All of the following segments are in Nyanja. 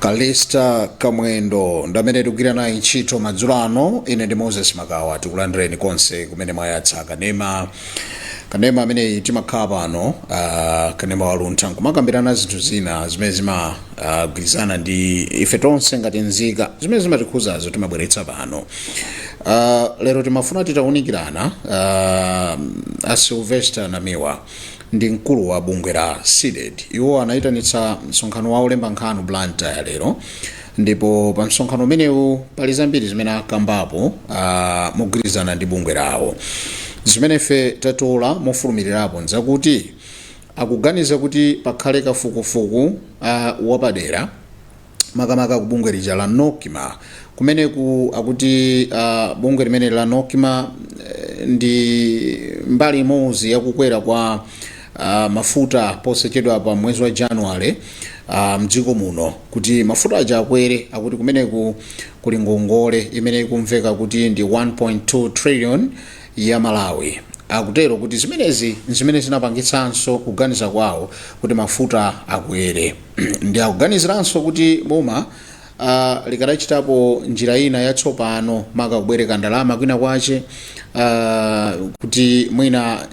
calista kamwendo ndamene tikugwira naye ntchito madzulo ano ine ndi moses makawa tikulandireni konse kumene mwayatsa kanema kanema ameneyi timakhala pano uh, kanema waluntha nkumakambirana zinthu zina zimene zimagwirizana uh, ndi ife tonse ngati nzika zimene zimatikhuzazo timabweretsa pano uh, lero timafuna titaunikirana uh, a sylvester namiwa ndi mkulu wa bungwe la cdedi iwo anayitanitsa msonkhano wa olemba nkhani blantyre lero ndipo pa msonkhano umenewu pali zambiri zimene akambapo ah, mogwirizana ndi bungwe lawo zimene ife tatola mofulumirirapo nzakuti akuganiza kuti pakhale kafukufuku ah, wapadera makamaka ku bungwe lija la nocma kumeneku akuti uh, bungwe limeneli la nocma eh, ndi mbali imodzi yakukwera kwa uh, mafuta posachedwa pa mwezi wa january uh, mdziko muno kuti mafuta aja akwere akuti kumeneku kuli ngongole imene ikumveka kuti ndi 1.2 trillion ya malawi akutero kuti zimenezi nzimene zinapangitsanso kuganiza kwawo kuti mafuta akwere ndi akuganiziranso kuti boma a likadachitapo njira ina yatsopano maka kubwereka ndalama kwina kwache uh, kuti mwina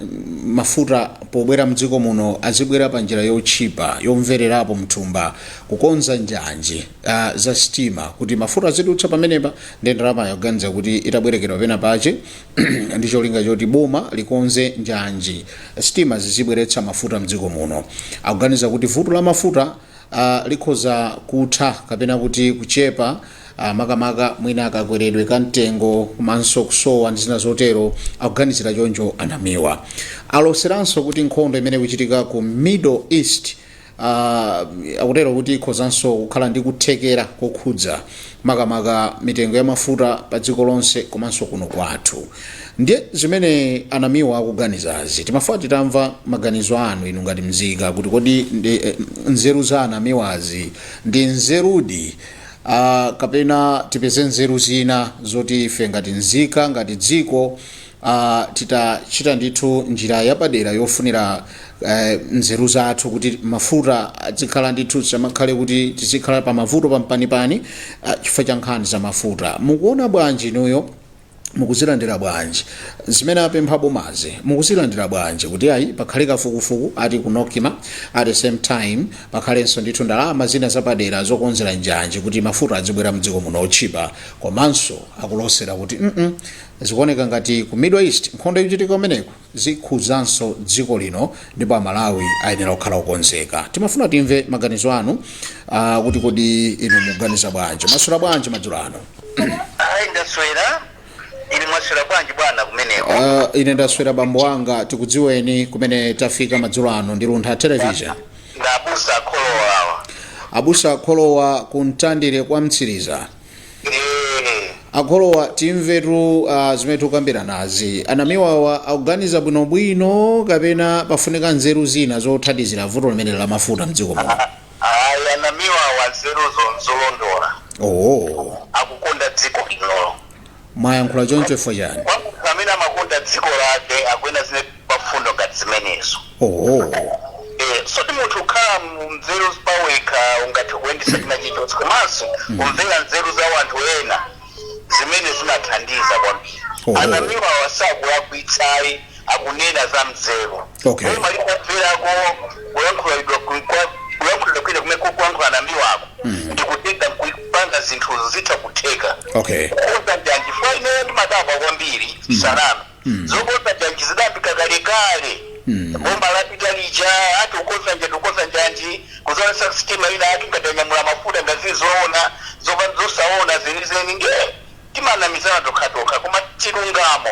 mafuta pobwera mdziko muno azibwera pa njira yotchipa yomvererapo mthumba kukonza njanji uh, za sitima kuti mafuta azidutsa pamenepa ndi ndalama akuganiza kuti itabwerekedwa pena pache ndi cholinga choti boma likonze njanji sitima zizibweretsa mafuta mdziko muno akuganiza kuti vuto la mafuta a likhoza kutha kapena kuti kuchepa ah, makamaka mwina kakweredwe ka mtengo komanso kusowa ndi zina zotero akuganizira choncho a namiwa aloseranso kuti nkhondo imene ikuchitika ku middle east ah, akutero kuti ikhozanso kukhala ndi kuthekera kokhudza makamaka mitengo ya mafuta pa dziko lonse komanso kuno kwathu ndiye zimene a namiwa akuganizazi timafuna titamva maganizo anu inu ngati mzika kuti kodi ndi, eh, nzeru za a namiwazi ndi nzerudi uh, kapena tipeze nzeru zina zoti ife ngati mzika ngati dziko a titachita ndithu njira yapadera yofunira eh, nzeru zathu kuti mafuta adzikhala ndithu tisamakhale kuti tizikhala pa mavuto pampanipani ah, chifukwa cha nkhani za mafuta mukuona bwanji inuyo mukuzilandira bwanji zimene apempha bomazi mukuzilandira bwanji kuti ayi pakhale kafukufuku ati ku NOCMA at the same time pakhalenso ndithu ndalama zina zapadera zokonzera njanji kuti mafuta adzibwera mdziko muno otchipa komanso akulosera kuti mm Zikuoneka ngati ku Middle East nkhondo ikuchitika kumeneko zikhudzanso dziko lino ndipo a Malawi ayenera kukhala okonzeka. Timafuna timve maganizo anu ah, kuti kodi inu muganiza bwanji? Mwaswera bwanji madzulo ano? ayi ndaswera ili mwaswera bwanji bwana kumeneko Ah, ine ndaswera bambo wanga tikudziweni kumene tafika madzulo ano ndi Luntha Television. ndi abusa a Kholowa awa Abusa a Kholowa ku Mtandire kwa Mtsiriza. Eh, a Kholowa timvetu uh, zimene tikukambiranazi a Namiwawa akuganiza bwinobwino kapena pafunika nzeru zina zothandizira vuto limene la mafuta mdziko muno ayi a Namiwawa nzeruzo nzolondola oh, akukonda dziko linolo mwayankhula choncho chifukwa chani kwa munthu amene amakonda dziko lake akuyenera zimene mfundo ngati zimenezo. Ooh. Eh, sikuti munthu ukhala munzeru pawekha ungathe kuyendesa china chilichonse komanso kumvera nzeru za anthu ena zimene zimathandiza kwambiri. Oho. A Namiwa awa sakulakwitsa ayi akunena za nzeru. Okay. Boma likamverako kulankhulidwa ku- kwa kulankhulidwa kwina kumene akulankhula a Namiwako ndikutenga kupanga zinthu zitha kutheka Okay. kukonza njanji chifukwa ineyo ndimadabwa kwambiri salama zokosa janji zidayambika kalekale boma lapita lija ati kukonza njanji kukonza njanji kuzaonesa sitima ina ati ngati anyamula mafuta ngati zili zoona zopa- zosaoneka zenizeni nde timanamizana tokhatokha koma chilungamo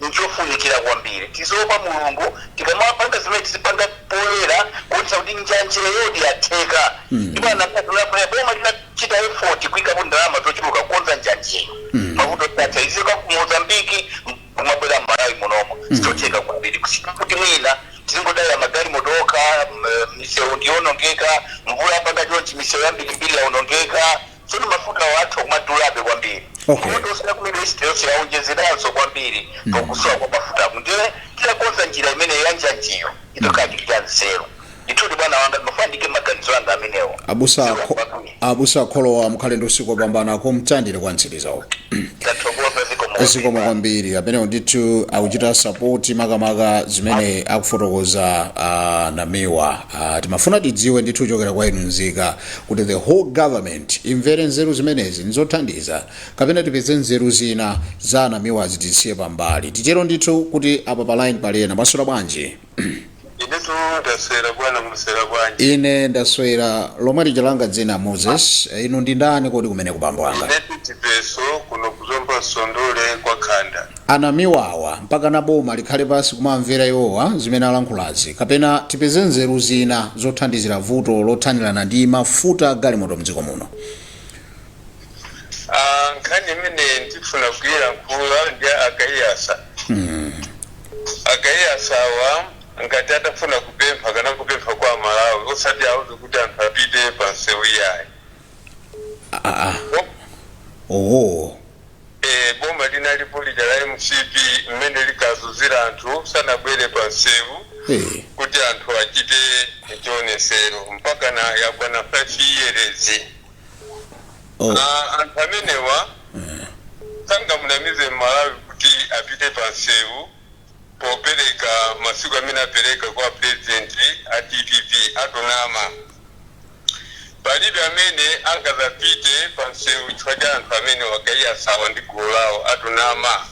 nchofunikira kwambiri tiziopa mulungu tikamapanga zimene tizipanga poyera kuonesa kuti njanjiyo di yatheka ndipo atapatula boma lita chita effort kuikapo ndalama zochuluka kukonza njanjiyo mafuta atha azichoka ku mozambiki kumabwera mmalawi munomo nchotheka kwambiri kusiyana kuti mwina tizingodalira magalimoto okha m- misewu ndiyonongeka mvula yapanga chonchi misewu yambirimbiri yaonongeka tsono mafuta awo atha kumadulabe kwambiri Okay. Mfundo osati ku middle east yonse yaonjezeranso kwambiri pakusowa kwa mafuta ndiye titakonza njira imene yanjanjiyo itha kukhala chinthu cha nzeru Ndithudi, bwana wanga, ndimafuna ndiike maganizo anga amenewo. Abusa, Zikomo akho, kwambiri. abusa akholowa mukhale ndi usiku wopambana kumtandire kwa mtsirizawo Ndathokoza zikomo kwambiri. zikomo kwambiri amenewo ndithu akuchita support makamaka zimene akufotokoza uh, namiwa uh, timafuna tidziwe ndithu kuchokera kwa inu nzika kuti the whole government imvere nzeru zimenezi nizothandiza kapena tipeze nzeru zina za namiwa zitisiye pambali titero ndithu kuti apa pa line pali ena mwaswera bwanji inetu ndaswera bwana mwaswera bwanji ine ndaswera lomwe lija langa dzina moses Eh, inu ndi ndani kodi kumeneko bambo anga inetu chipeso kuno kuzomba sondole kwa khanda anamiwawa mpakana boma likhale pansi kumamvera iwowa zimene alankhulazi kapena tipeze nzeru zina zothandizira vuto lothanirana ndi mafuta agalimoto mdziko muno Ah, nkhani imene ndifuna kuyilankhula ndi a Kaiyatsa A Kaiyatsawa ngati atafuna kupempha akanangopempha kwa amalawi osati auze kuti anthu apite pa msewu iyayi. aa Bo- owo eh, boma linalipo lija la mcp mmene likazuzira anthu sanabwere pa msewu Eh. kuti anthu achite chionesero mpakana yakwana 5 years Oh. Ah, anthu amenewa sangamunamize mmalawi kuti apite pa nsewu popereka masiku amene apereka kwa purezidenti a dpp atonama palibe amene angazapite pa nsewu chifukwa cha anthu amenewa a Kaiyatsawa ndi gulu lawo atonama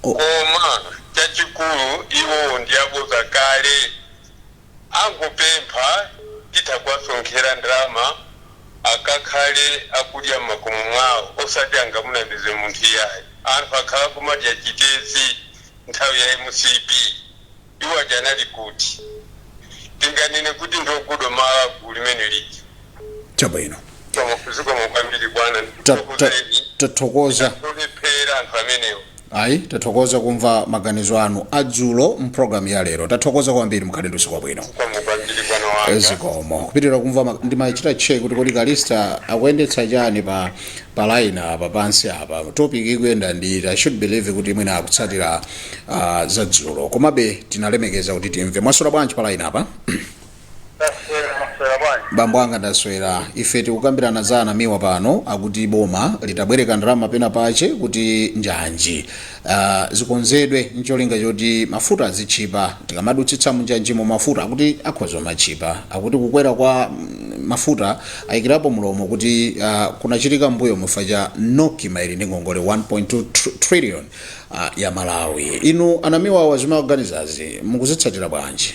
Oh. koma chachikulu iwowo ndi aboza kale Angopempha titha kuwasonkhera ndalama akakhale akudya mmakomo mwawo osati angamunamize munthu iyayi. Anthu akhala kumadya chitedze nthawi ya mcp iwo aja anali kuti? Tinganene kuti ndi ogodomala gulu limene lija? Chabwino. Zikomo kwambiri bwana Ta- ta- ndikuthokozeni. tathokoza Olephera anthu amenewo. Ayi, tathokoza kumva maganizo anu adzulo mpulogalamu ya lero. Tathokoza kwambiri mukhale ndi usiku wabwino. zikomo kwambiri bwana wanga zikomo kupitira kumva ma- ndimachita check kuti kodi kalista akuyendetsa chani pa pa line apa pansi apa topic ikuyenda ndiyiti i should believe kuti mwina akutsatira uh, za dzulo komabe tinalemekeza kuti timve mwaswera bwanji pa line apa bambo anga ndaswera ife tikukambirana za anamiwa pano akuti boma litabwereka ndalama pena pache kuti njanji ah, zikonzedwe ncholinga choti mafuta azitchipa tikamadutsitsa munjanjimo mafuta akuti akhoza kumatchipa akuti kukwera kwa mm, mafuta ayikirapo mlomo kuti ah, kunachitika mbuyomu chifukwa cha nocma ili ndi ngongole 1.2 tr- trillion ah, ya malawi inu anamiwawa zimaganizazi mukuzitsatira bwanji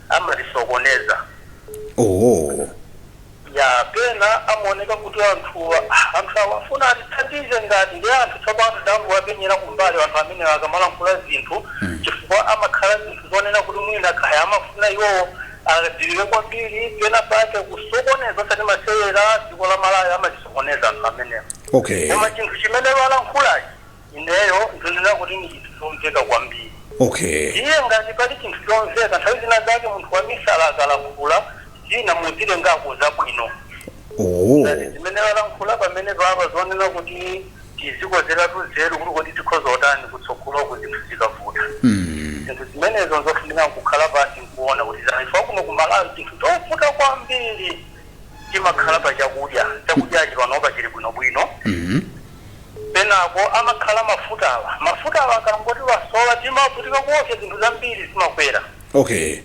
amatisokoneza Oh. ya pena amaoneka kuti anthuwa anthu amafuna atithandize ngati ndi anthu tsopano dambo wapenyera kumbali anthu amenewa akamalankhula zinthu chifukwa amakhala zinthu zonena kuti mwina kaya amafuna iwowo adziwike kwambiri pena pake kusokoneza osati masewera dziko la malawi amatisokoneza anthu amenewa Okay. koma chinthu chimene walankhulachi ineyo ndinena kuti ndi chinthu chomveka kwambiri okay iye ngati pali chinthu chomveka nthawi zina zake munthu wamisala akalankhula zina muzitengako zabwino oh ngati zimene walankhula pamene papa zonena kuti tizikonzeratu nzeru kuti kodi tikhoza otani kutsogoloku zinthu zikavuta zinthu zimenezo nzofunika kukhala pansi nkuona kuti zaifa kuno kumalawi chinthu chovuta kwambiri chimakhala pa chakudya chakudyachi panopa chili bwinobwino Penapo amakhala mafutawa. Mafutawa akangoti wasowa timavutika kuopsa zinthu zambiri zimakwera. Okay.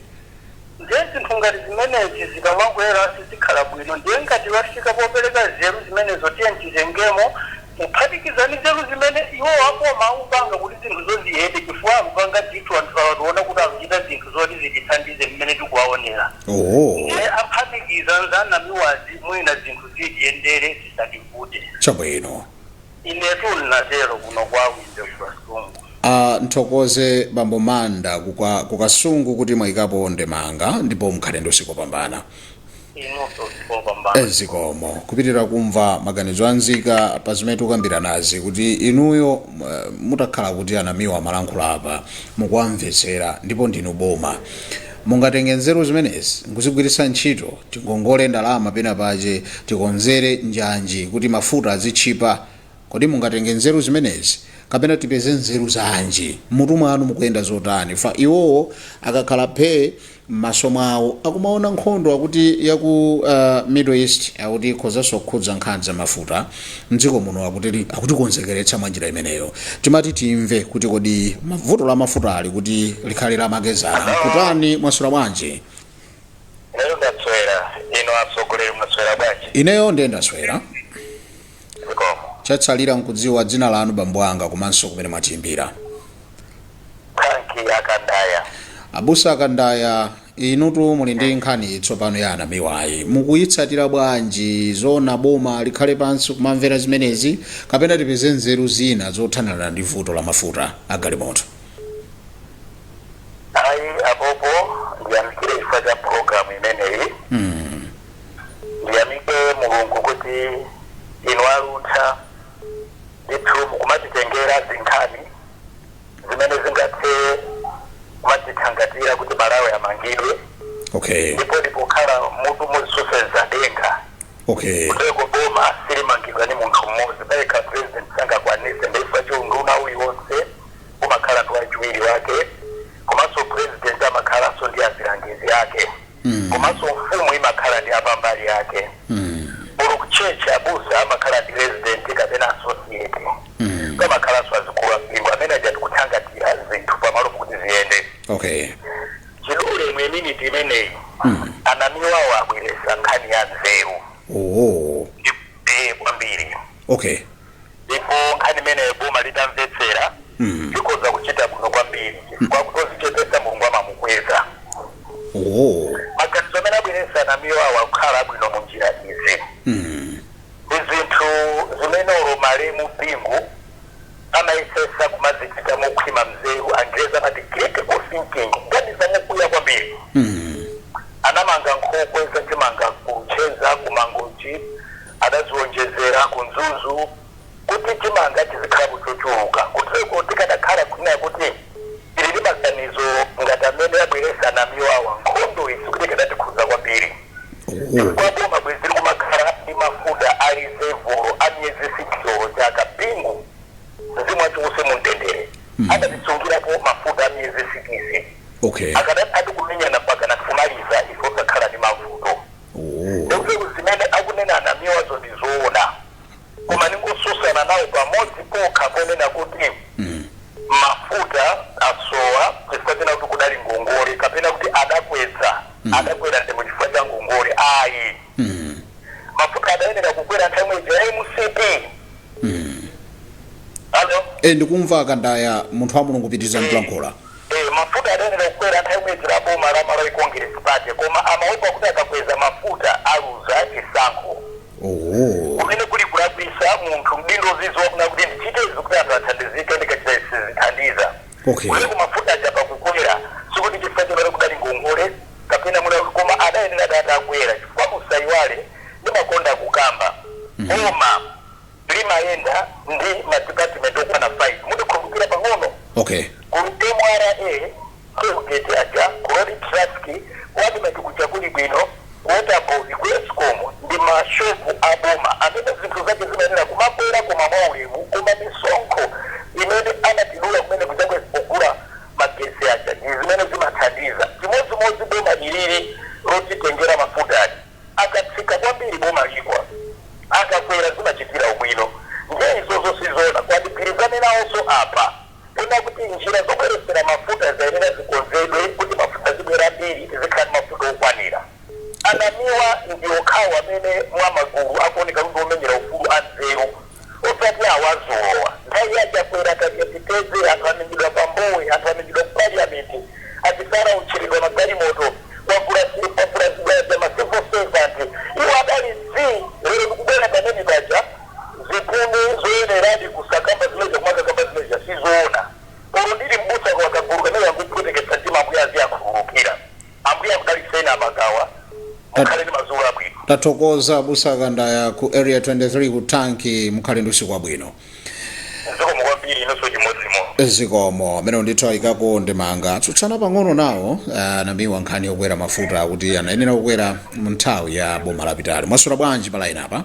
Ndiye zinthu ngati zimenezi zikamakwera sizikhala bwino. Ndiye ngati wafika popereka nzeru zimenezo tiyeni titengemo kuphatikiza ndi nzeru zimene iwowo a boma akupanga kuti zinthuzo ziyende chifukwa akupanga ndithu anthu awa tiona kuti akuchita zinthu zoti zitithandize mmene tikuwaonera. Oho. Ndiye aphatikize n'za Namiwazi mwina zinthu zitiyendere. zisativute chabwino inetu ndinatero kuno kwa wimbe kukasungu a nthokoze bambo manda kuka- kukasungu kuti mwayikapo ndemanga ndipo mukhale ndi usiku wabwino inunso usiku wopambana zikomo kupitirira kumva maganizo a nzika pa zimene tikukambiranazi kuti inuyo eh, mutakhala kuti anamiwa amalankhula apa mukuwamvetsera ndipo ndinu boma Mungatenge nzeru zimenezi n'kuzigwiritsa ntchito. Tingongole ndalama pena pache, tikonzere njanji kuti mafuta azitchipa. Kodi mungatenge nzeru zimenezi? Kapena tipeze nzeru zanji? M'mutu mwanu mukuyenda zotani? Chifa Iwowo akakhala phee m'maso mwawo akumaona nkhondo akuti ya ku uh, Middle East akuti ikhozanso kukhudza nkhani za mafuta. mdziko muno akuti akutikonzekeretsa mwa njira imeneyo timati timve kuti kodi vuto la mafutali kuti likhale la makedzana kutani mwaswera bwanji lero ndaswera bwino atsogoleri mwaswera bwanji ineyo ndiye ndaswera zikomo chatsalira nkudziwa dzina lanu bambo anga komanso kumene mwatiimbira thanki akandaya abusa akandaya inutu muli ndi nkhani tsopano ya anamiwayi mukuyitsatira bwanji zona boma likhale pansi kumamvera zimenezi kapena tipeze nzeru zina zothanirana ndi vuto la mafuta agalimoto ayi apopo ndiyamikire chifukwa cha programu imeneyi mm. ndiyamike mulungu kuti inu aluntha ndithu mukumatitengera zinkhani zimene zingathe kumadzithangatira kuti malawi amangidwe okay ndipo ndipokhala mutu musenza denga okay kuteko boma silimangidwa ni munthu mmodzi payekha president sangakwanise ndiye chiunduna uliwonse umakhala ndi wachiwiri wake komanso president amakhalanso ndi azilangizi ake komanso mfumu imakhala ndi apambali yake olo kutchetchi abusa amakhala ndi resident kapena associate pamakhalanso azikulu ampingo amene ajati kuthangatira zinthu pamalo kuti ziyende okay chidule mu miniti imeneyi anamiwawo abweresa nkhani ya nzeru oh ndi eh, kwambiri okay ndipo nkhani imeneyo boma litamvetsera likoza kuchita bwino kwambiri chifukwa wodzichepesa mulungu amamukweza oh maganizo amene abweresa anamiwawo akukhala abwino mu njira izi Ndi zinthu zimene olo malemu Bingu amayesesa kumazichita mokhwima nzeru angerezi amati critical thinking kuganiza mokuya kwambiri anamanga nkhokwe za chimanga ku luchenza ku mangochi adaziwonjezera ku mzuzu kuti chimanga chizikhalapo chochuluka kuteko tikadakhala kunena kuti Tili ndi maganizo ngati amene abweresa anamiwawa. Nkhondoyi sikuti ikadatikhuza kwambiri chifukwa boma bwezi likumakhala ndi mafuta a reserve olo a miyezi 6 olo chaka. Bingu, mzimu wake uuse mumtendere, adatisungirapo mafuta a miyezi sikisi. Okay. Akadati kumenyana mpakana kumaliza ife osakhala ndi mavuto. Nde kuti zimene akunena anamiwazo ndi zoona. koma ndingosusana nawo pamodzi pokha ponena kuti mafuta asowa chifukwa china kuti kudali ngongole kapena kuti adakweza adakwera mtengo chifukwa cha ngongole ayi mafuta adayenera kukwera nthawi imene ija ya mcp alo e ndikumva kandaya munthu wa mulungu pitirizani kulankhula Eh, mafuta adayenera kukwera nthawi imene ija ya boma la malawi congress party koma amaopa kuti akakweza mafuta aluza chisankho Oho. kumene kuli kulakwisa munthu mdindo uziziwa kunena kuti ndichite izi kuti anthu athandizike ndikachita izi sizithandiza Okay. kuteko mafuta aja pakukwera sikuti chifukwa chonena kuti kudali ngongole kapena muna koma adayenera atakwera chifukwa musayiwale ndimakonda kukamba boma limayenda ndi madipatimenti okwana 5 mundikumbukira pang'ono Okay. ku mra Tollgate aja ku Road Traffic ku Admarc kuja kuli bwino, ku Waterboard ku Escom ndi ma shop a boma amene zinthu zake zimayenera kumakwera koma mwa ulemu koma misonkho imene amatidula kumene kuja pogula magetsi aja ndi zimene zimathandiza. Chimodzimodzi boma ilili lotitengera mafutali. Akatsika kwambiri boma ligwa, akakwera zimachitira ubwino. Ndiye izozo sizoona, koma ndigwirizane nawonso apa. Pena kuti njira zobweretsera mafuta zayenera zikonzedwe kuti mafuta azibwera ambiri tizikhala ndi mafuta okwanira. A Namiwa ndiwo okhawo amene mwa magulu akuoneka kuti ndi omenyera ufulu a nzeru osati awa adzulowa. Nthawi ya a Chakwera, akadaliteteze anthu amenyedwa pa Mbowe, anthu amenyedwa ku Parliament, a Chisale aotcheredwa magalimoto, kwavulazidwa ma civil servant. Iwo adali zii! Lero akubwera pamene paja. zikhumbo zoyeneradi kusakamba zimene zija kumakakamba zimene zija sizoona olo ndili m'busa koma kagulu kamene kangophweteketsa mtima ambuye aziakhululukira ambuye akudaliseni amagawa mukhale ndi madzulo abwino tathokoza abusa akandaya ku area 23 ku tanki mukhale ndi usiku wabwino zikomo kwambiri inonso chimodzimodzi zikomo amene ndithu ayikako ndemanga atsutsana pang'ono nawo a Namiwa nkhani yokwera mafuta kuti anayenera kukwera mu nthawi ya boma lapitali mwasula bwanji palaini apa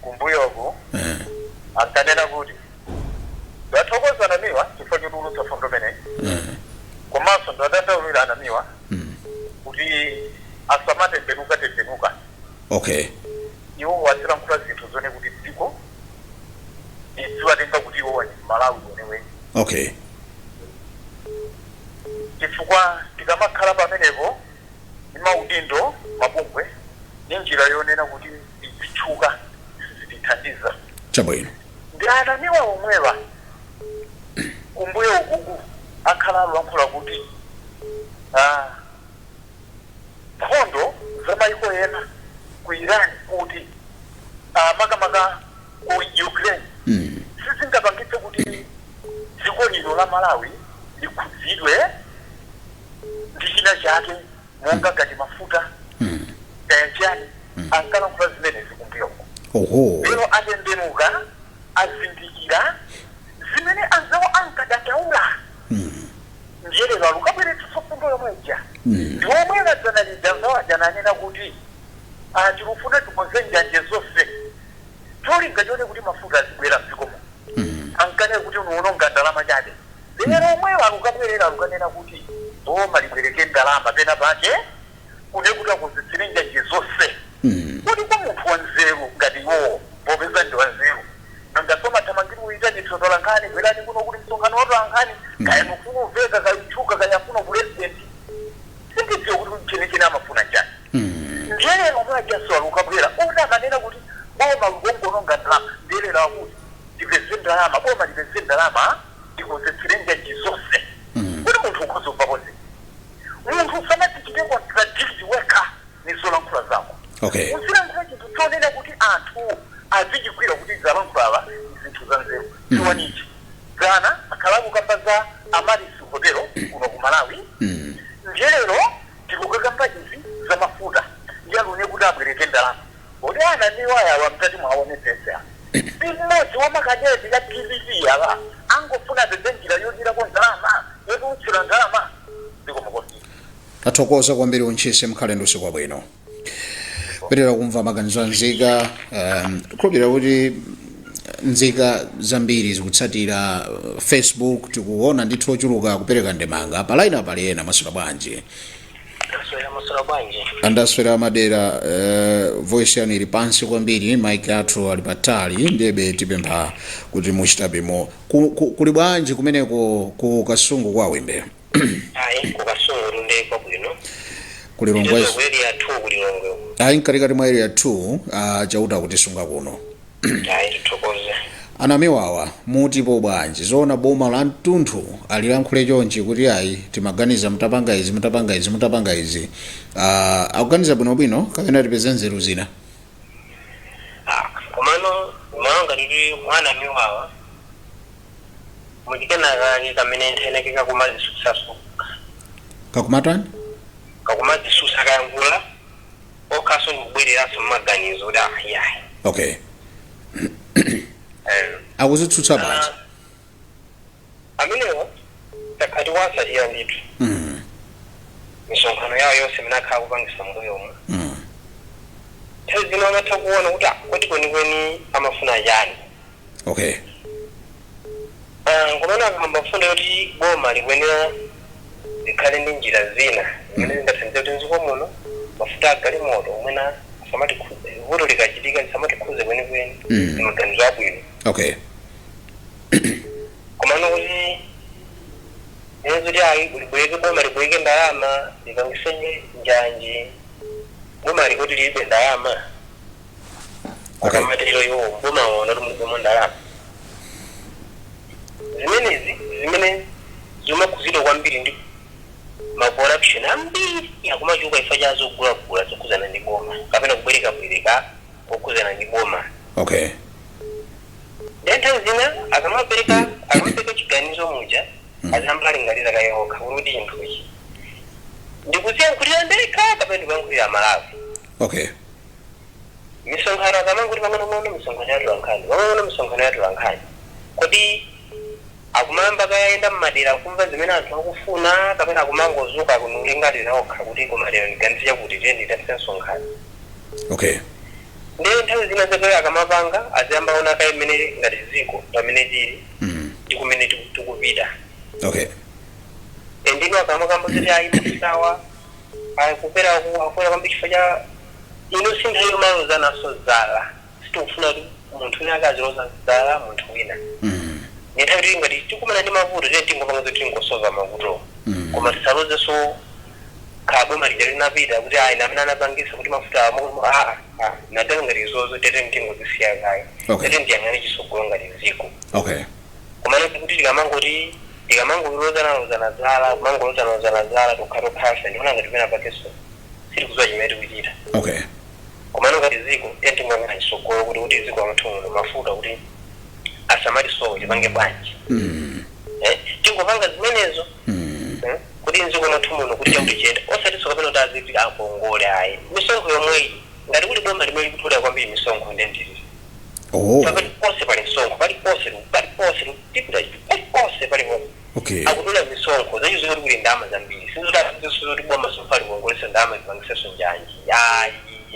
kumbuyoku Eh, ankanena kuti ndathokoza anamiwa chifukwa chotulutsa fundo imeneyi eh, komanso ndiwadandaulira a Namiwa mm. kuti asamatembenuka tembenuka okay iwo azilankhula zinthu zoona kuti dziko lidziwatenga kuti iwowa ndi mMalawi weneweni okay chifukwa tikamakhala pamenepo ndi maudindo mabungwe ndi njira yonena kuti tidzitchuka sizitithandiza chabwino ndi a Namiwa omwewa kumbuyo kuku akhala alulankhula kuti ah, nkhondo za maiko ena ku iran kuti ah, makamaka ku ukraine sizingapangitse kuti dziko lino la malawi likhudzidwe ndi china chake monga ngati mafuta kaya chiyani ankalankhula zimenezi kumbuyoko oho lero atembenuka azindikira zimene anzawo ankadandawula ndiye lero alukabweretsa fundo yomwe ija ndi omwe adzana lija anzawo aja ananena kuti "Ah, tilufuna tikonze njanje zonse cholinga chonena kuti mafuta azibwera mdziko muno ankanena kuti n'kuwononga ndalama chabe Lero omwewo alukabwerera alukanena kuti boma libwereke ndalama pena pake kunena kuti akonzetsere njanje zonse. Kodi kwa munthu wa nzeru ngati iwowo popeza ndi wa nzeru nanga amathamangira uyitanitsa atolankhani bwerani kuno kuli msonkhano wa atolankhani kaya amafuna uveka kaya utchuka kaya afuna upulezidenti sindidziwa kuti chenicheni amafuna nchani. Ndiye lero omwe ajanso alukabwera oti amanena kuti boma lukongononga ndalama ndiye lero akuti tipeze ndalama boma lipeze ndalama. ndikukonzetsera njanji zonse kuti munthu ukhoza kumvapo zinthu munthu usanazichite contradict wekha ni zolankhula zako Okay. uzilankhula chinthu chonena kuti anthu azichigwira kuti zalankhulidwa ni zinthu za nzeru chiwanichi dzana akhala akukamba za Amaryllis hotelo kuno ku malawi ndiye lero tikukakamba izi za mafuta ndiye a loan kuti abwereke ndalama Kodi anamiwa awa mukati mwaonetsetsa si mmodzi wa makadeti a dpp awa? Angofuna apeze njira yodyerako ndalama, yotulutsira ndalama. Zikomo kwambiri. Tathokoza kwambiri untchisi mukhale ndi usiku wabwino pitira kumva maganizo a nzika um, khulupirira kuti nzika zambiri zikutsatira uh, facebook tikuona ndithu ochuluka kupereka ndemanga palaina pali ena mwaswera bwanji Ndaswera mwaswera bwanji. andaswera madera uh, voice yanu ili pansi kwambiri mic athu ali patali ndiye tipempha kuti muchitabemo ku, ku, kuli bwanji kumeneko ku kasungu kwa wimbe Ayi kukasungu ndi kwabwino. ku lilongwe area 2 kulilongwe. ayi mkatikati mwa area 2 uh, chauta kutisunga kuno Ayi tithokoze. Anamiwa awa mutipo bwanji zoona boma la mtunthu alilankhule chonchi kuti ayi timaganiza mutapanga izi mutapanga izi mutapanga izi uh, akuganiza bwinobwino kapena tipeze nzeru zina Ah, komano naonga tiri anamiwawa muchikana kake kamene nthena ke kakumadzitsutsanso kakumatani kakumadzitsutsa akayankhula okhanso ndikubwereranso mmaganizo kuti ah yayi okay Eh, akudzitsutsa bwanji amenewo takhala tikuwatsatira ndithu Mm, misonkhano yawo yonse imene akhala akupangitsa mbuyomu mm, nthawi zina amatha kuona kuti ah, kodi kwenikweni amafuna chani okay Ah, komano akamba mfundo yoti boma likuyenera likhale ndi njira zina zimene zingathandize kuti mdziko muno mafuta agalimoto omwewa asamatikhuze vuto likachitika lisamatikhuze kwenikweni Mm. ndi maganizo abwino okay komano kuti zimene zoti ayi libwereke boma libwereke ndalama lipangitsenso njanji boma likuti lilibe ndalama Okay. akamatero iwo timawaona kuti muboma ndalama zimenezi zimene zimakhuzidwa kwambiri ndi macorruption ambiri akumachuluka chifukwa cha zogulagula zokhuzana ndi boma kapena kubwerekabwereka kokhuzana ndi boma Okay. nthawi zina akamapereka akamapereka chiganizo muja aziyamba alingalira kaye okha kuti chinthuchi ndikuziyankhulira ndekha kapena ndikuyankhulira malawi Okay. Misonkhano akamangoti pang'onopang'ono misonkhano ya atolankhani pang'onopang'ono misonkhano ya atolankhani kodi akumayamba kaye ayenda m'madera n'kumva zimene anthu akufuna kapena akumangozuka n'kulingalira okha kuti koma lero ndiganize chakuti tiyeni tidzachite msonkhano okay ndiye nthawi zina zake akamapanga aziyamba aona kaye mmene ngati dziko pamene tili mm. ndi kumene tiku- tikupita okay and ino akamakamba zoti ayi ndisawa Ayi, kukwera ku akukwera kwambiri chifukwa cha ino si nthawi yomalozananso zala. Sitikufuna kuti munthu wina ake aziloza zala munthu wina. Ndi nthawi yoti ngati tikumana ndi mavuto tiyeni tingopanga zoti tingosova mavutowo. Koma tisalozenso kaya boma lija linapita kuti ayi ndi amene anapangitsa kuti mafuta awa moko moko aa aa zinatero ngati izozo tiyeni tingozisiya kaye. Okay. Tiyeni tiyang'ane chitsogolo ngati dziko. Okay. komano kuti tikamangoti tikamangolozanalozana zala kumangolozanalozana zala tokhatokhafe ndiona ngati pena pakeso sitikuziwa chimene tikuchita okay komano ngati ziko tiyeni tingoyang'ana chisogolo kuti kuti mziko mwathu muno mafuta kuti asamatisowe tipange bwanji mm. Eh, tingopanga zimenezo Mm. eh, kuti mziko mwathu muno kuti chakuti chiyende osatiso kapena kuti aziti akongole ayi misonkho yomweyi ngati kuli boma limene likutolera kwambiri misonkho nde ndi ili oh paliponse pali msonkho paliponse paliponse tipita paliponse paliponse okay akutola misonkho zacho zikuti kuli ndalama zambiri sizoti boma sofali kuongolesa ndalama zipangiseso njanji ayi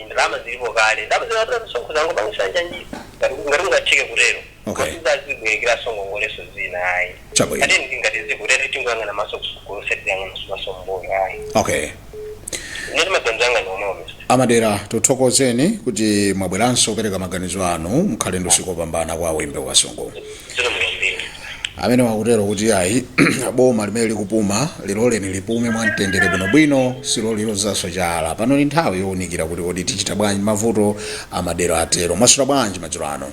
ndalama zilipo kale ndalama zikatola misonkho zingopangisa njanji ngati ngati ungatheke kutero Okay. si zozibwerekeraso ngongoleso zina ayi Chabwino. tiyeni ngati ziko tiyeni tingoyang'ana maso kusogolo sitiyang'ana maso mbuyo ayi okay Nde ndi maganizo anga nomwe mr. a Madera tikuthokozeni kuti mwabweranso kupereka maganizo anu mukhale ndi usiku wopambana kwa Wimbe Kasungu Zikomo kwambiri. amene wakutero kuti ayi boma limene likupuma liloleni lipume mwa mtendere bwinobwino si lolilozanso chala pano ndi nthawi yowunikira kuti kodi tichita bwanji mavuto a Madera atero mwaswera bwanji madzulo ano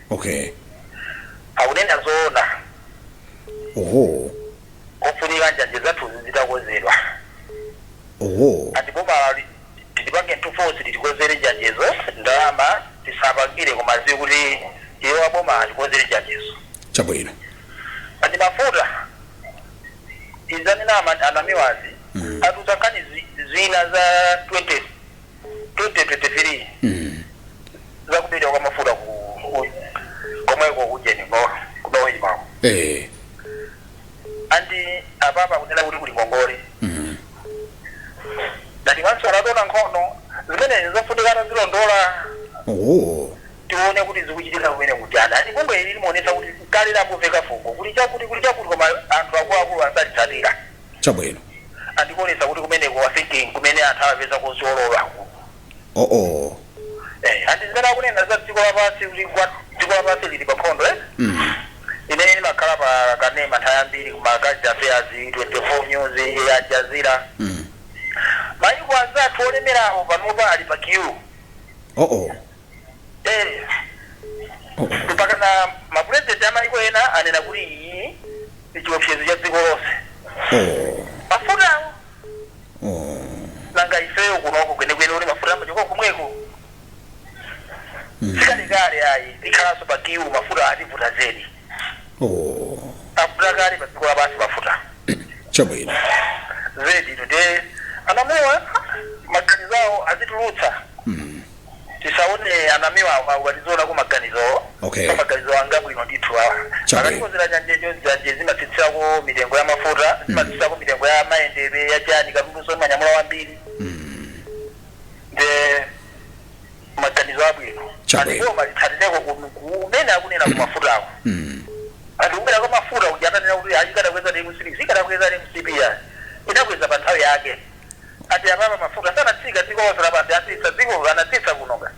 okay akunena zoona oho kufunika njanje zathu zitakozedwa oho andi boma tilipange ntufosi litikozere njanjezo ndalama tisapangire koma ziwe kuti iwo aboma atikozere njanjezo chabwino andi mafuta izi anena ama- a Namiwazi atiuza nkhani zi- zina za 20 2023 mm. zakubedwa kwa mafuta ku ku- komweko kujeni kuno- ku NOCMA-ko eh. andi apapa kunena kuti kuli ngongole mm. ngati wanso anatona nkhani zimenezi zofunika kuzilondola oh. tione kuti zikuchitika kumene kujana andi bungwe ili limaonesa kuti kale lakumveka fungo kuli chakuti kuli chakuti koma anthu akuluakulu salitsatira Chabwino. Akutionetsa kuti kumeneko I think kumene anthu amapeza kosololako. ooh. Eh, ndi zimene akunena za dziko lapansi kuti ngwa dziko lapansi lili pa nkhondo eti? Mm. Ine ndimakhala pa kanema nthawi yambiri kuma current affairs 24 news ya Al Jazeera. Mm. Mayiko anzathu olemerawo panopa ali pa queue. ooh. Ee, Mpakana mapulezidenti a mayiko ena anena kuti iyi ndi chiopsezo cha dziko lonse. Mafutawo! Nanga ifeyo kunoko kwenikweni oti mafuta amachoka komweko? Si kalekale ayi, tikhalanso pa queue, mafuta ativuta zedi. Avuta kale padziko lapansi mafuta. Chabwino. Zeditu, ndiye a Namiwa maganizo awo azitulutsa. tisaone anamiwa awa ali zoona ku maganizo Okay. so maganizo ngabwino ndithu awa Chabwino. akatikonzera njanje njanje zimatsitsako mitengo ya mafuta zimatsitsako mitengo ya mayendedwe ya chani katundunso imanyamula wambiri nde maganizo abwino Chabwino. ndipo malingaliroko kumene akunena ku mafutako anthu kukwera kwa mafuta kuti atanena kuti zikadakweza ndi mcp zikadakweza ndi mcp ya inakweza pa nthawi yake ati apapa mafuta sanatsika dziko lonse lapansi atsitsa dziko anatsitsa kunoka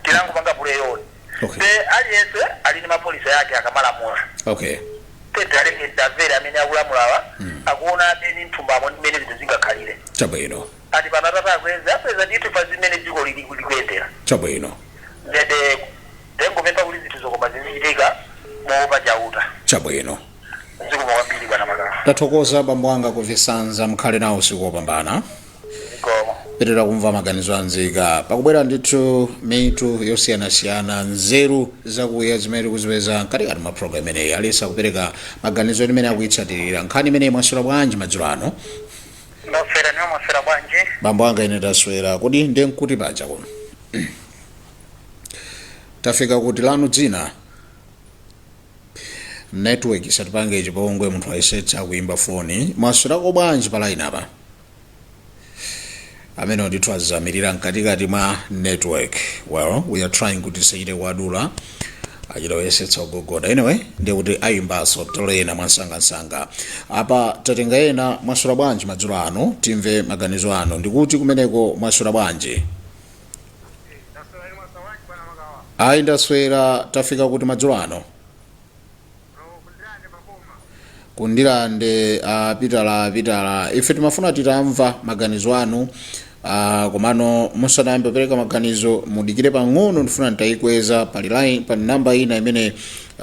tinangopanga puleyoni okay. te aliyense ali ni mapolisi yake akamalamula okay. tiwalekere ndi amvere amene akulamulawa mm. akuona mmene mthumbamo ndi mene zinthu zingakhalire chabwino ati pano atata akweze apeza ndithu pa zimene dziko likuyendera chabwino nde ndingopempha kuti zinthu zokoma zizichitika moopa chauta chabwino zikomo kwambiri bwana makala tathokoza bambo anga kuchisanza mukhale nawo usiku wopambana zikomo pitirira kumva maganizo a nzika pakubwera ndithu mitu yosiyanasiyana nzeru zakuya zimene tikuzipeza mkatikati mwa programu imeneyi anthu kupereka maganizo mmene akuyitsatirira nkhani imeneyi mwaswera bwanji madzulo ano ndaswera inu mwaswera bwanji bambo anga ine taswera kodi ndi kuti paja kuno tafika kuti lanu dzina Network isatipange chipongwe munthu ayesetsa kuimba foni. Mwaswerako bwanji pa line apa? Amenewo ndithu azamirira mkatikati mwa network. Well, we are trying kuti tisachite kuwadula achita kuyesetsa kugogoda. Anyway, ndiye kuti ayimbanso titole ena mwansangansanga. Apa tatenga ena mwaswera bwanji madzulo ano timve maganizo anu ndikuti kumeneko mwaswera bwanji. ayi ndaswera tafika kuti madzulo ano ku Ndirande a pitala pitala ife timafuna titamva maganizo anu ah, komano musanayambe kupereka maganizo mudikire pang'ono ndifuna nditayikweza pali line pali namba ina imene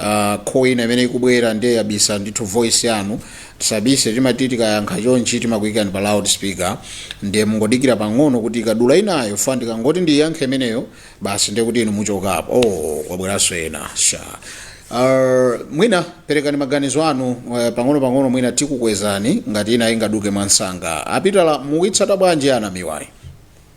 ah, call ina imene ikubwera ndiye yabisa ndithu voice yanu Tisabise timati tikayankha chonchi timakuikani pa loud speaker ndiye mungodikira pang'ono kuti ikadula inayo chifukwa ndikangoti ndiiyankhe imeneyo basi ndiye kuti inu muchokapo. Ooo kwabweranso ena shaa eh mwina perekani maganizo anu eh, pang'onopang'ono mwina tikukwezani ngati ina ingaduke mwansanga. Apitala mukuitsata bwanji ya anamiwayi?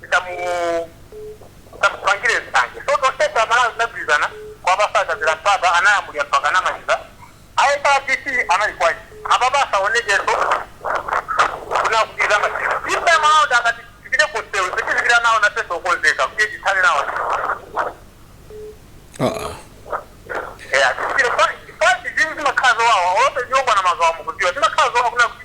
tisamupangire nsanje so tonsefe amalawi tinagwirizana kuwapasa akazira mpapa analamulira mpaka anamaliza aepadc anali kwaji apapa asaonekenso kunena kuti masiku ife amalawi ndakati tipite kusewu zitizikira nawo nafenso okonzeka kuti tithane nawo Uh-uh. Yeah, chifukwa chifukwa zambiri zimakhala zowawa olope nyongo na mazawa mukudziwa zimakhala zowawa kunena kuti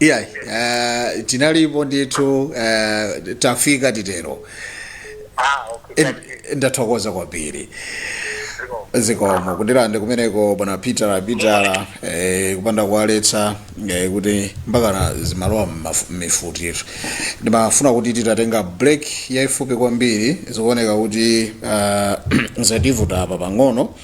iyayi uh, tinalipo ndithu uh, tafika titero ah okay Eh, thank ndathokoza kwambiri you ziko zikomo ku Ndirande kumeneko bwana peter apitala eh, kupanda kuwaletsa eh, kuti mpakana zimalowa mmaf- mmifutitu ndimafuna kuti titatenga break yaifupi kwambiri zikuoneka kuti uh, zativuta apa pang'ono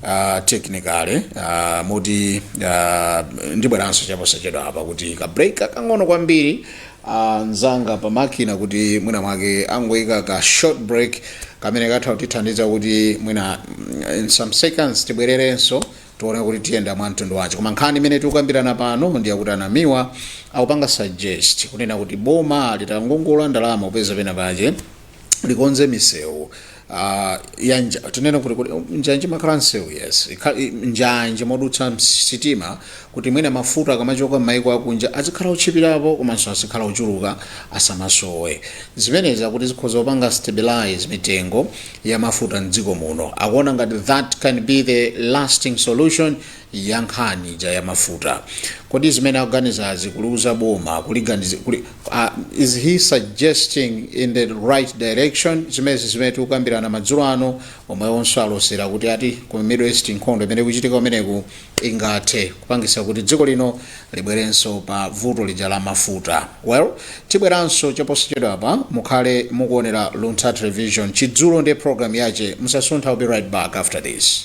uh, technically uh, moti uh, ndibweranso chaposachedwa apa kuti ka break kakang'ono kwambiri uh, anzanga pa makina kuti mwina mwake angoyika ka short break kamene katha kutithandiza kuti mwina mm, in some seconds tibwererenso tione kuti tiyenda mwa mtundu wace koma nkhani imene tikukambirana pano ndi yakuti anamiwa akupanga suggest kunena kuti boma litangongola ndalama kupeza pena pace likonze misewu ah, ya nja tinene kuti kuti njanje makhala msewu yes Ikha- i- njanje modutsa sitima kuti mwina mafuta akamachoka m'mayiko akunja azikhala otchipirapo komanso azikhala ochuluka asamasowe zimenezi akuti zikhoza kupanga stabilize mitengo ya mafuta mdziko muno akuona ngati that can be the lasting solution ya nkhani ija ya mafuta kodi zimene akuganizazi kuliuza boma kuliganiza kuli, uh, is he suggesting in the right direction zimenezi zimene tikukambirana madzulo ano omwewonso alosera kuti ati ku middle east nkhondo imene ikuchitika kumeneko ingathe kupangisa kuti dziko lino libwerenso pa vuto lija la mafuta well tibweranso chaposachedwa apa mukhale mukuonera luntha television chidzulo ndi program yache musasuntha we'll be right back after this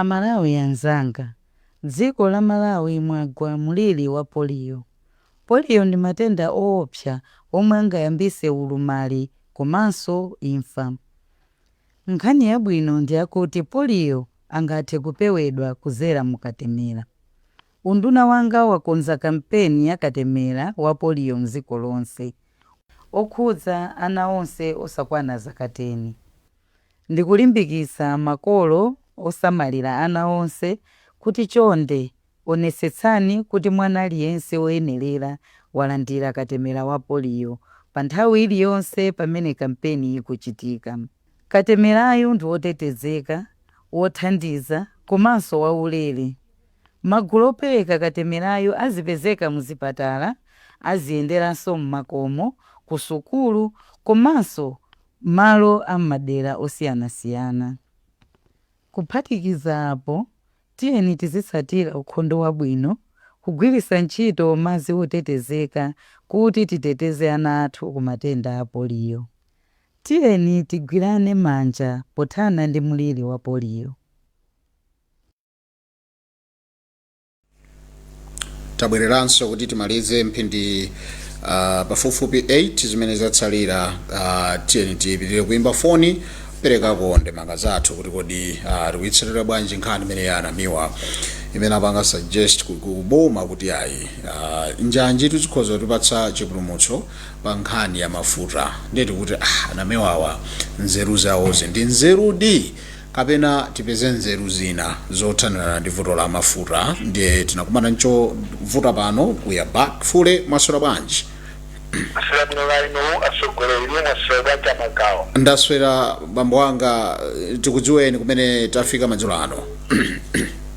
Amalawi anzanga, dziko la Malawi mwagwa mliri wa poliyo. Poliyo ndi matenda oopsa omwe angayambise ulumali komanso imfa. Nkhani yabwino ndiyakuti poliyo angathe kupewedwa kudzera mu katemera. Unduna wanga wakonza kampeni ya katemera wa poliyo mdziko lonse, okhudza ana onse osakwana zaka teni. Ndikulimbikitsa makolo osamalira ana onse kuti chonde onetsetsani kuti mwana aliyense woyenerera walandira katemera wa poliyo pa nthawi iliyonse pamene kampeni ikuchitika. Katemerayu ndi wotetezeka, wothandiza, komanso waulere. Magulu opereka katemerayu azipezeka muzipatala, aziyenderanso m'makomo, kusukulu, komanso m'malo a m'madera osiyanasiyana. Kuphatikiza apo, tiyeni tizitsatira ukhondo wabwino, kugwiritsa ntchito madzi otetezeka kuti titeteze ana athu ku matenda a poliyo. Tiyeni tigwirane manja pothana ndi mliri wa poliyo. tabwereranso kuti timalize mphindi uh, pafupifupi 8 zimene zatsalira uh, tiyeni tipitirire kuimba foni perekako ndemanga zathu kuti kodi uh, tikuitsatira bwanji nkhani imene ya a Namiwa imene apanga suggest ku- ku- kuboma kuti ayi uh, njanji tizikhoza kutipatsa chipulumutso pa nkhani ya mafuta nde tikuti ah, a Namiwawa nzeru zawozi ndi nzerudi kapena tipeze nzeru zina zothanirana ndi vuto la mafuta ndiye tinakumana nchovuta pano we are back fully mwaswera bwanji ndaswera bwino kaya inu atsogoleri inu mwaswera bwanji a Magawa ndaswera bambo anga eh, tikudziweni kumene tafika madzulo ano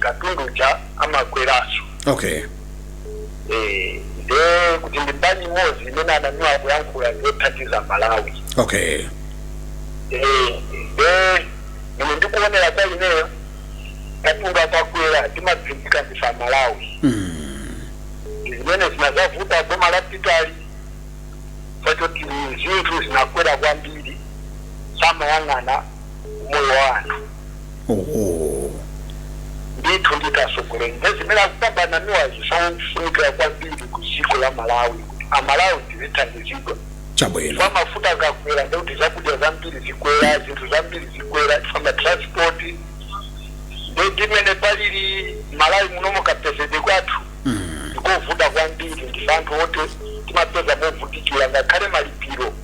katundu uja amakweranso okay Eh, nde kuti ndi mbali imodzi imene a Namiwa akuyankhula ndiyothandiza Malawi okay Eh, nde mmene ndikuonera kwa ineyo katundu akakwera timapindika ndife aMalawi mm. zimene zinazavuta boma lapitali chifukwa choti zinthu zinakwera kwambiri samayang'ana moyo wa anthu Oho. Ndithu nditi asogoleli nde zimene akukamba a Namiwazi zofunikila kwambiri ku dziko la Malawi kuti aMalawi tizithandizidwa Chabwino. chifukwa mafuta akakwela ndekuti zakudya zambiri zikwela zinthu zambiri zikwela chifukwa ma transport nde ndi mmene palili Malawi munomo kapezedwe kwathu ndikovuta kwambiri ndife anthu oti timapeza movutikila ngakhale malipilo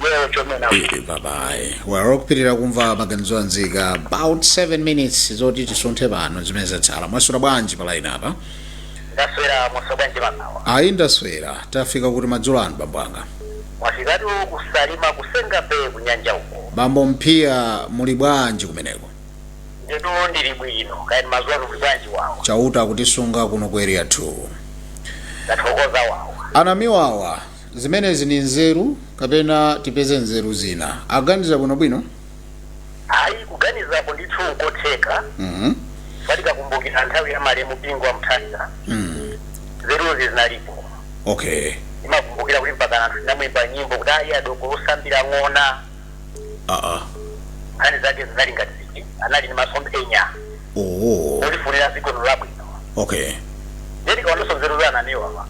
Well, chomena. Eh, babayi waro kupitirira kumva maganizo a nzika about 7 minutes zoti tisunthe pano zimene zatsala mwaswera bwanji palaini apa Ndaswera mwaswera bwanji a Magawa. ayi ndaswera tafika kuti madzulo ano bambo anga Mwafikatu ku Salima ku Senga Bay kunyanja uko. bambo Mphiya muli bwanji kumeneko Ndetu ndili bwino. Kaya inu mazuwa kuli bwanji wawo. chauta akutisunga kuno ku area 2 Ndathokoza wawo. a Namiwawa Zimenezi ni nzeru kapena tipeze nzeru zina? Aganiza bwinobwino? Ayi, kuganizapo ndithu nkotheka. Mhm. Chifukwa tikakumbukira nthawi ya malemu Bingu wa Mutharika, Mm. nzeruzi zinalipo. Okay. Ndimakumbukira kuti mpaka anthu tinamuyimba nyimbo kuti ayi dooko osambira ng'ona. Ah ah. Nkhani zake zinali ngati ziti, anali ni masomphenya. oh Olifunira dziko lino labwino. okay Ndiye tikaonanso nzeru za anamiwawa.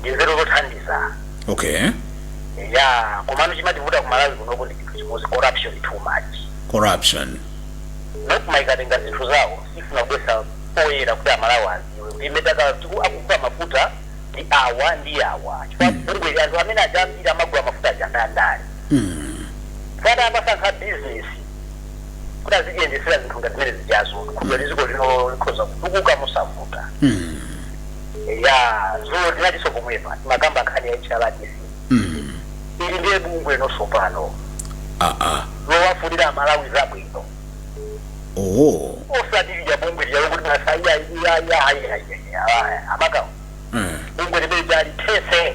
Ndi nzeru zothandiza. okay Ya, komano chimativuta ku Malawi kunoko ndi chinthu chimodzi corruption too much. corruption nkumakatenga zinthu zawo safuna kubweretsa poyera kuti amalawi adziwe kuti imene akugula mafuta ndi awa ndi awa chifukwa bungweli anthu amene ajawa ambiri amagula mafuta aja nda ndale akanasankha bizinesi kuti azitiyendesera zinthu ngati zimene zijazo dziko lino likhoza kutukuka mosavuta Mm. ya dzulo ndinalinso pomwepa mmakamba nkhani ya hrdc Mm. ili ndiye bungwe tsopano Ah ah. lowafunira amalawi zabwino Oh. osati lija bungwe lija lokuti masaiya iya ayiayi aMakawa Mm. bungwe limene lija lithese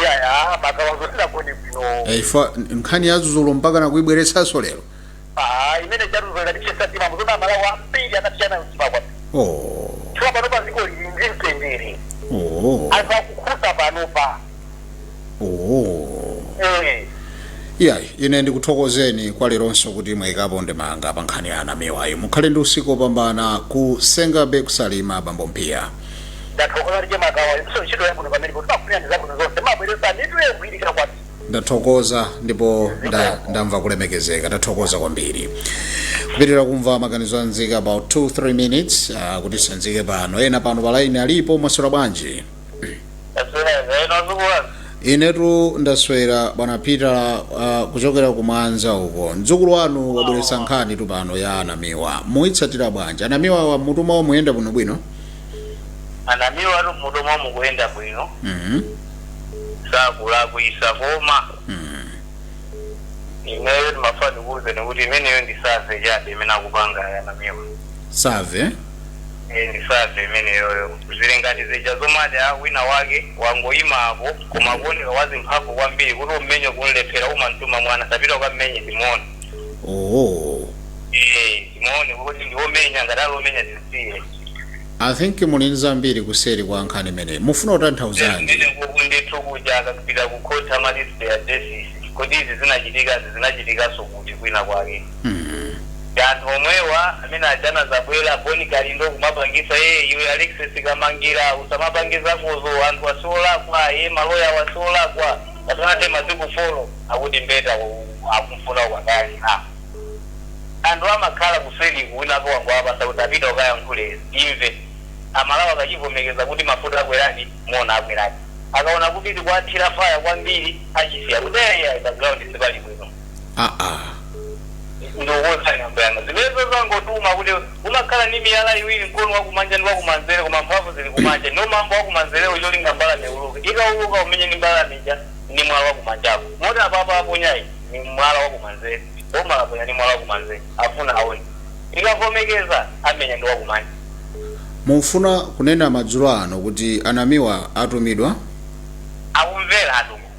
iyaya Makawa dzulo sitinagone bwino Eh, ifa nkhani ya dzulodzulo mpaka nakuibweretsanso lero Ah, imene chadzulo yatiwawitsa mtima muzoti amalawi ambiri anasweka mtima kwambiri oh. chifukwa panopa dziko lili ndi mtendere Oh. anthu akukhuta panopa Oh. Eh, iya ine ndikuthokozeni kwa leronso kuti mwayikapo ndemanga pa nkhani ya anamiwayi mukhale ndi usiku opambana ku Senga Bay ku Salima bambo mpiya ndathokoza chemakawa inuso ntchito yabwino pamenepo timakufunirani zabwino zonse mumabweretsa mitu yogwirika kwambiri ndathokoza ndipo nda, ndamva kulemekezeka ndathokoza kwambiri kupitirira kumva maganizo a nzika about 2-3 minutes uh, kuti titsanzike pano ena pano palaini alipo mwaswera bwanji Taswera bwino azukulazi. inetu ndaswera bwana peter uh, kuchokera kumwanza uko mdzukulu wanu wabweretsa nkhanitu pano ya anamiwa mukuitsatira bwanji anamiwawa m'mutu mwawo mukuyenda bwinobwino Anamiwatu m'mutu mwawo mukuyenda bwino. Mhm, Sakulakwitsa koma. mhm. Ineyo ndimafuna ndikuuzeni kuti imeneyo ndi survey chabe imene akupanga anamiwa. survey Eh, ndi survey imeneyoyo zili ngati zija zomati wina wake wangoyima apo koma akuoneka wadzimphamvu kwambiri kuti ummenye ukumlephera umamtuma mwana tapita ukammenye timuone oh Eh, timuone kuti ndi womenya ngati ali womenya tisiye i think muli ndi zambiri kuseri kwa nkhani imeneyi mufuna kutanthauzanji ndine kuku ndithu kuja akapita kukhoti amati cite ma case kodi izi zinachitikazi zinachitikanso kuti kwina kwake ndi anthu omwewa amene aja anazagwira boni kalindo kumapangisa ee iwe alexis kamangila usamapange zakozo anthuwa siolakwa ee maloyawa siolakwa pasanathe masiku folo akuti mbeta akumfuna ukakayang'ana anthu amakhala kuseliku winanso wangowapasa kuti apita ukayankhule timve amalawi akachivomekeza kuti mafuta akweredi muona akweradi akaona kuti tikuwathira faya kwambiri achisiya kuti ee ayi pa ground sipali bwino. aa ndokoza nyambo yanga zimenezo zangotuma kuti umakhala ndi miyala iwiri mkono wakumanja ndi wakumanzere koma mphamvu zili kumanja ndiwo mambo wakumanzerewo cholinga mbalame iuluke ikauluka umenye mbalame ija ndi mwala wakumanjako moti apapa aponyayu ni mwala wakumanzere boma laponya ndi mwala wakumanzere afuna aone ikavomekeza amenya ndi wakumanja mufuna kunena madzulo ano kuti anamiwa atumidwa akumvera atumwa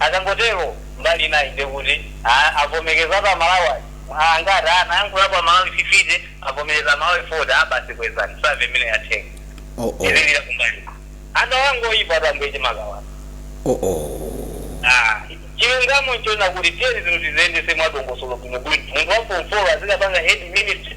Akangotero mbali inayi ndiye kuti ah avomekezatu a Malawi aja mwa angati ah nayankhulapo a Malawi 50 avomereza a Malawi 40 ah basi kwezani save imeneyo yatheka Oh oh. tizilira kumbali anthu awa ngoyipatu ambuye chimakawawa Oh oh. ah chilungamo nchonena kuti tiyeni zinthu tiziyendetse mwadongosolo bwinobwino munthu wa form 4 azikapanga head ministry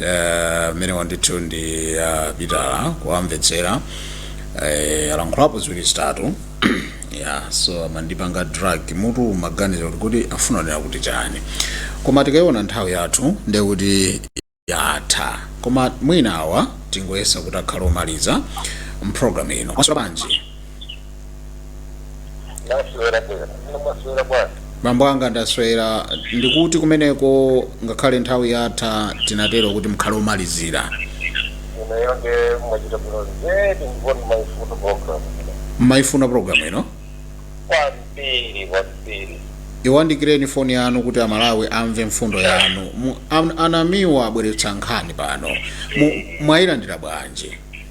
eh, amene wandithu ndi a pitala kuwamvetsera eh, alankhulapo ziwiri zitatu ya so amandipanga drug mutu maganizo kuti kuti afuna anene kuti chani koma tikayiona nthawi yathu ndiye kuti yatha koma mwina awa tingoyesa kuti akhala omaliza mpulogalamu ino maso banji ndaswera bwera ndaswera bwana mambo anga ndaswera ndikuti kumeneko ngakhale nthawi yatha tinatero kuti mukhale omalizira ineyo nde mwachita bwino zedi ndikuona maifuno program mmaifuna programu ino kwambiri kwambiri iyandikireni foni yanu kuti amalawi amve mfundo yanu Mu- an- anamiwa abweretsa nkhani pano Mu- mwayilandira bwanji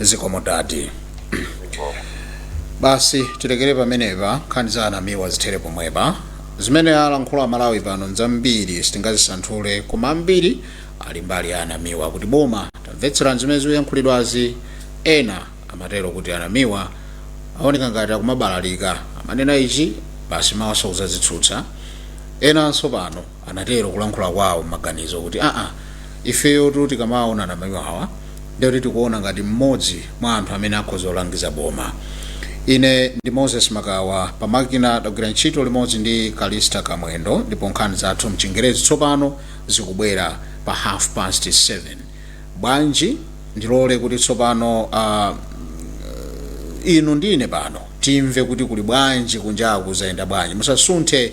zikomo dadi basi tilekere pamenepa nkhani za anamiwa zithere pomwepa zimene alankhula amalawi pano nzambiri sitingazisanthule koma ambiri ali mbali ya anamiwa kuti boma tamvetserani zimene zikuyankhulidwazi ena amatero kuti anamiwa aoneka ngati akumabalalika amanena ichi basi mawanso kuzazitsutsa enanso pano anatero kulankhula kwawo m'maganizo kuti aa ifeyotu tikamawaona anamiwa awa ndekuti tikuona ngati mmodzi mwa anthu amene akhoza kulangiza boma ine ndi moses makawa pamakina tagwira ntchito limodzi ndi kalista kamwendo ndipo nkhani zathu mchingerezi tsopano zikubwera pa half past 7 bwanji ndilole kuti tsopano uh, inu ndine pano timve kuti kuli bwanji kunjaku zayenda bwanji musasunthe